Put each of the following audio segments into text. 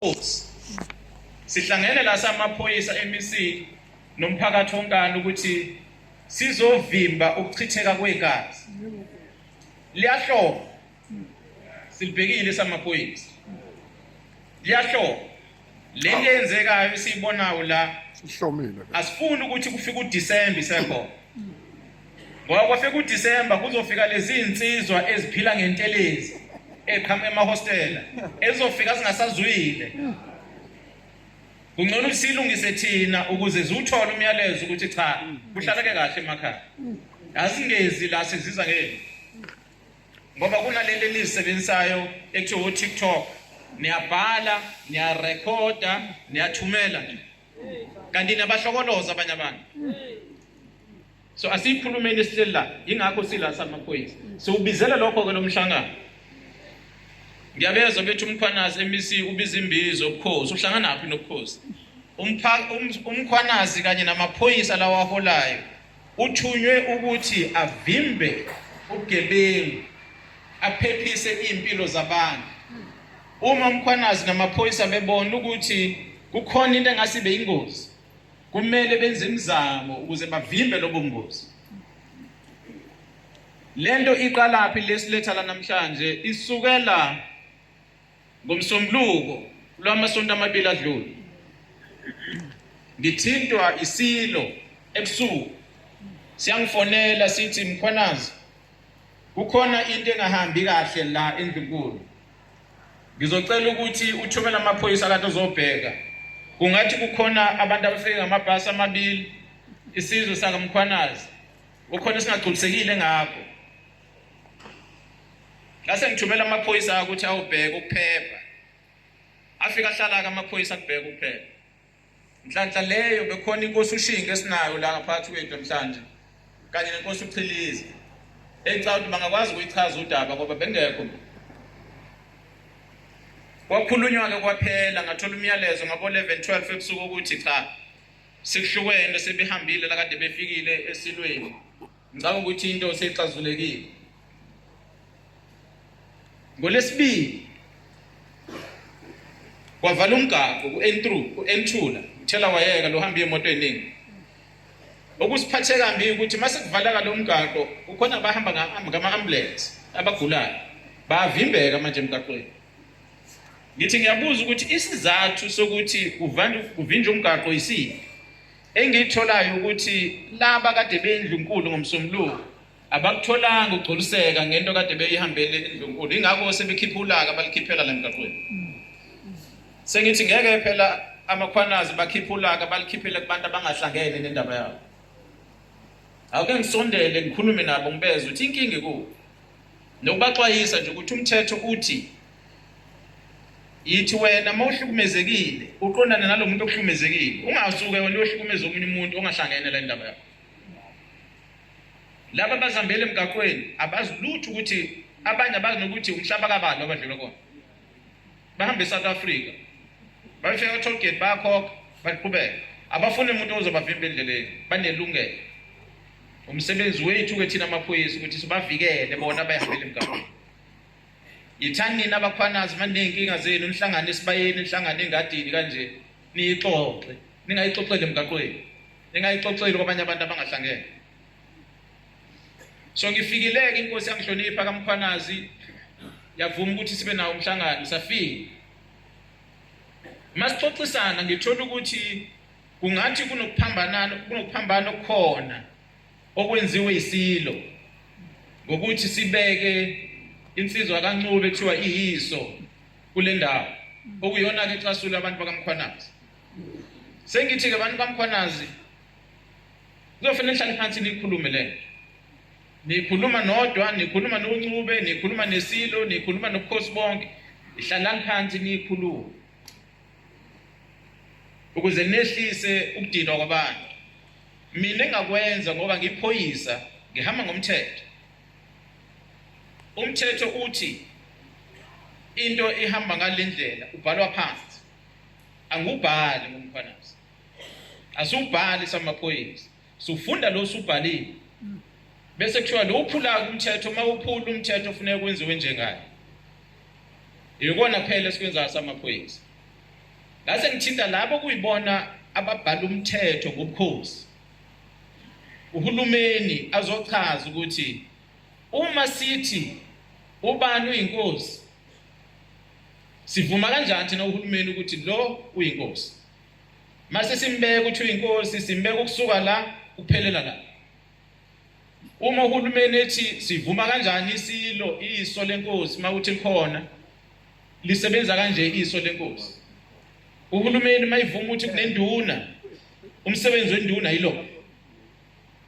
Inkosi. Sihlangene la samaphoyisa emisini nomphakathi onkana ukuthi sizovimba ukuchitheka kwegazi. Liyahloba. Silibhekile samaphoyisa. Liyahloba. Le nto eyenzekayo esiyibonayo la ihlomile. Asifuni ukuthi kufike uDisemba isekhona. Ngoba sekuDisemba kuzofika lezi insizwa eziphila ngentelezi eqhamuka emahostela ezofika zingasazwile. Kungcono usilungise thina ukuze ziwuthole umyalezo ukuthi cha kuhlaleke kahle emakhaya. Azingezi la siziza ngeke. Ngoba kunalento enizisebenzisayo ekuthiwa uTikTok niyabhala niyarekhoda niyathumela nje kanti nabahlokoloza abanye abantu so asiyikhulumeni esihleli la yingakho sila samaphoyisa siwubizele lokho-ke lo mhlangano ngiyabezwa bethi umkhwanazi emc ubiza imbizo ubukhosi uhlanganaphi nobukhosi um, umkhwanazi kanye namaphoyisa lawaholayo uthunywe ukuthi avimbe ubugebengu aphephise iy'mpilo zabantu Uma uMkhwanazi namaphoyisa bebona ukuthi kukhona into engase ibe ingozi, kumele benze imizamo ukuze bavimbe lobo ngozi. Lento iqalaphi lesiletha la namhlanje isukela ngomsombuluko lwamasonto amabili adlule. Ngithintwa isilo ebusuku siyangifonela sithi Mkhwanazi Kukhona into engahambi kahle la endlunkulu. Ngizocela ukuthi uthumele amaphoyisa kanti uzobheka. Kungathi kukhona abantu abafike ngamabhasi amabili isizwe sakamkhwanazi. Ukhona esingagculisekile ngakho. Ngase ngithumela amaphoyisa ukuthi awubheke ukuphepha. Afika hlala ke amaphoyisa kubheka ukuphepha. Nhlanhla leyo bekhona inkosi uShinga esinayo la ngaphathi kwethu namhlanje kanye nenkosi uChilizi. Engicabanga ukuthi bangakwazi ukuyichaza udaba ngoba bengekho. Kwakhulunywa ke kwaphela ngathola umyalezo ngabo 11 12 ebusuku ukuthi cha sikuhlukene sebehambile la kade befikile esilweni. Ngicabanga ukuthi into seyixazulekile. Ngolesibili kwavala umgaqo ku-N3 ku-N2 la uthela wayeka lo hamba imoto eningi okusiphathe kambi ukuthi mase kuvalaka lo mgaqo kukhona abahamba ngama-ambulance abagulayo bayavimbeka manje emgaqweni ngithi ngiyabuza ukuthi isizathu sokuthi kuvinjwe umgaqo yisiphi Engiyitholayo ukuthi laba kade beyindlunkulu ngomsombuluko abakutholanga ukugcoliseka ngento kade beyihambele indlunkulu ingakho sebekhipha ulaka balikhiphela la mgaqweni sengithi ngeke phela amakhwanazi bakhipha ulaka balikhiphele kubantu abangahlangene nendaba yabo awuke ngisondele ngikhulume nabo ngibeze ukuthi inkinga ikuwo nokubaxwayisa nje ukuthi umthetho uthi yithi wena uma uhlukumezekile uqondane nalo muntu okuhlukumezekile ungasuke wena uyohlukumeza omunye umuntu ongahlangene le ndaba yakho laba abazihambele emgaqweni abazi lutho ukuthi abanye abazi nokuthi umhlaba kabani abadlula kona bahambe e-south africa bafika ka-toll gate bayakhokha baqhubeka abafuni umuntu ozobavimba endleleni banelungelo umsebenzi wethu-ke thina amaphoyisa ukuthi sibavikele bona abahambele emgaqweni Yithani nina abakhwanazi maneyinkinga zenu nihlangane esibayeni nihlangane engadini kanje niyixoxe ningayixoxeli emgaqweni ningayixoxeli kwabanye abantu abangahlangene so ngifikileke inkosi yangihlonipha kamkhwanazi yavuma ukuthi sibe nawo umhlangano safika masixoxisana ngithola ukuthi kungathi kunokuphambanana kunokuphambana okukhona okwenziwe isilo ngokuthi sibeke insizwa kaNcube ekuthiwa iyiso kule ndawo okuyona ke ixasule abantu bakamkhwanazi sengithi ke abantu bamkhwanazi kuzofanele nihlale phansi nikhulume le nikhuluma nodwa nikhuluma noNcube nikhuluma nesilo nikhuluma nobukhosi bonke ihlalani phansi nikhulume ukuze nehlise ukudinwa kwabantu mina engakwenza ngoba ngiphoyisa ngihamba ngomthetho umthetho uthi into ihamba ngalendlela ubhalwa phansi angubhali ngomkhwanazi asubhali samaphoyisa Sufunda lo subhalile. Bese kuthiwa lo uphula umthetho uma uphula umthetho ufuneka kwenziwe njengani. Yikona phela esikwenzayo samaphoyisa. Ngase ngithinta labo kuyibona ababhala umthetho ngobukhosi. Uhulumeni azochaza ukuthi uma sithi ubani uyinkosi sivuma kanjani thina uhulumeni ukuthi lo uyinkosi Mase simbeka ukuthi uyinkosi simbeka ukusuka la kuphelela la. Uma uhulumeni ethi sivuma kanjani isilo iso lenkosi mawuthi likhona lisebenza kanje iso lenkosi. Uhulumeni mayivuma ukuthi kunenduna umsebenzi wenduna yilo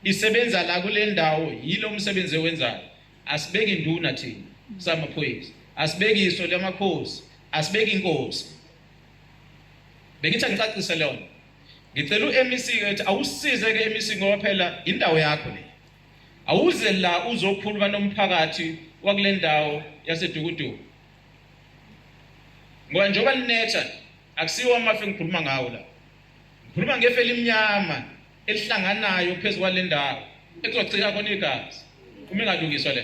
isebenza la kule ndawo yilo umsebenzi owenzayo asibeki induna thina samaphoyisa asibeki iso lamakhosi asibeki inkosi bengithi angicacise lona ngicela uMEC ke ukuthi awusize ke MEC ngoba phela indawo yakho le awuze la uzokhuluma nomphakathi wakule ndawo yasedukuduku ngoba njengoba linetha akusiwo amafi ngikhuluma ngawo la ngikhuluma ngefe elimnyama elihlanganayo phezu kwale ndawo ekuzocika khona igazi uma ingalungiswa le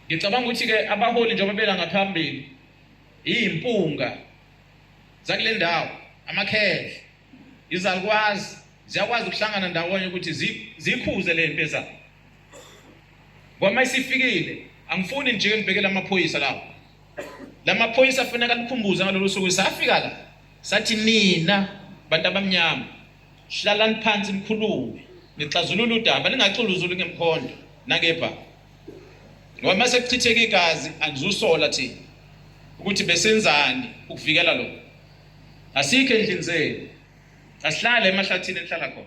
ngicabanga ukuthi-ke abaholi njengoba bela ngaphambili iyimpunga zakule ndawo amakhendle izalukwazi ziyakwazi ukuhlangana ndawonye ukuthi zikhuze le mpi ezayo ngoma isifikile angifuni nje ngibhekele amaphoyisa lawo la maphoyisa afuneka likhumbuze ngalolu suku safika la sathi nina bantu abamnyama hlalani phansi nikhulume nixazulule udaba ningaxuluzuli ngemkhondo nangebhaka Ngoba mase kuchitheka igazi angizusola thina ukuthi besenzani ukuvikela lokho. Asikho endlini zenu. Asihlale emahlathini enhlala khona.